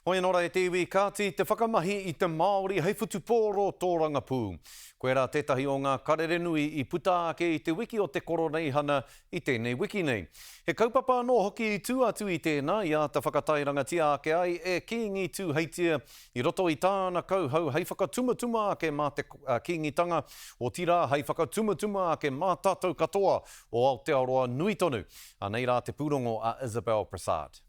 Hoi anō rā e te iwi, kāti te whakamahi i te Māori hei whutupōro tōrangapū. Koirā tētahi o ngā karere nui i puta ake i te wiki o te Koroneihana i tēnei wiki nei. He kaupapa anō hoki i tū atu i tēnā i āta whakatairangatia ake ai e Kīngi Tūheitia i roto i tāna kauhau hei whakatumatuma ake mā te Kīngitanga, otirā hei whakatumatuma ake mā tātou katoa o Aotearoa nui tonu. Anei rā te pūrongo a Isabel Prasad.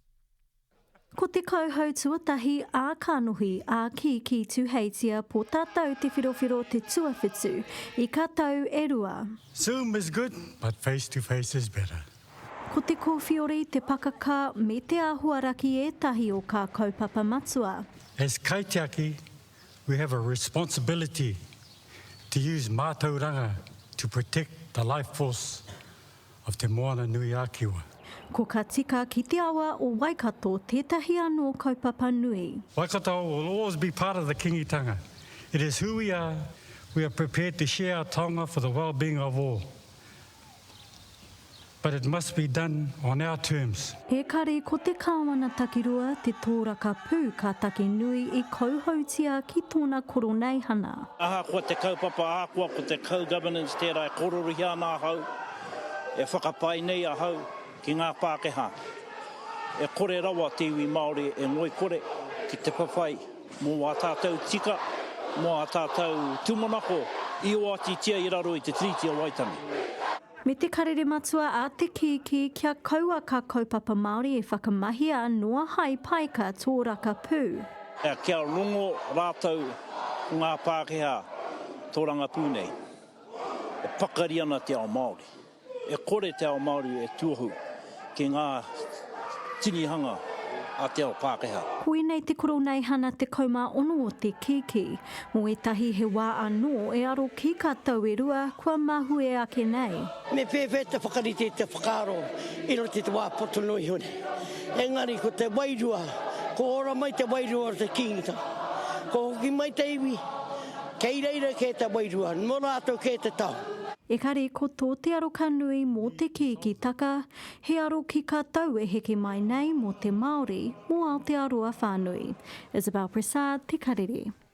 Ko te kauhau tuatahi ā kanohi ā kīkī Tuheitia po tatau te whirowhiro te tuawhitu i ka tau e rua. Zoom is good but face to face is better. Ko te kōwhiori, te pakaka me te āhuaraki ētahi o kā kaupapa matua. As kaitiaki we have a responsibility to use mātauranga to protect the life force of Te Moana-nui-a-Kiwa. Ko Ka Tika ki te Awa o Waikato tētahi anō kaupapa nui. Waikato will always be part of the Kingitanga. It is who we are, we are prepared to share our taonga for the well-being of all. But it must be done on our terms. Ekari ko te Kāwana Takirua te tōraka pū ka take nui i kauhautia ki tōna koroneihana. Ahakoa te kaupapa, ahakoa ko te co-governance tērā e kororohia ana ahau, e whakapae nei ahau ki ngā Pākehā, e kore rawa te iwi Māori e ngoikore ki te whawhai mō ā tātou tika, mō ā tātou tūmanako i oatitia i raro i te Tiriti o Waitangi. Me te karere matua a te kīkī kia kaua kā kaupapa Māori e whakamahia noa hai paeka tōraka pū. Kia rongo rātou ko ngā Pākehā tōranga pū nei e pakari ana te ao Māori, e kore te ao Māori e tuohu. ki ngā tinihanga a te ao Pākehā. Koinei te Koroneihana 16 o te kiki. Mo etahi he wa ano e aro ki ka tau e rua kua mahue ake nei. Me pēwhea te whakarite i te whakaaro i roto i te wā poto noa iho nei. Engari ko te wairua, kua ora mai te wairua o te Kīngitanga. Kua hoki mai te iwi, Kei reira kē te wairua, nō rātou kē te tahu. Ekari ko tō te aro ka nui mō te kīki taka, he aro ki ka tau e heke mai nei mō te Māori, mō Aotearoa whānui. Isabel Pressard, Te Karere.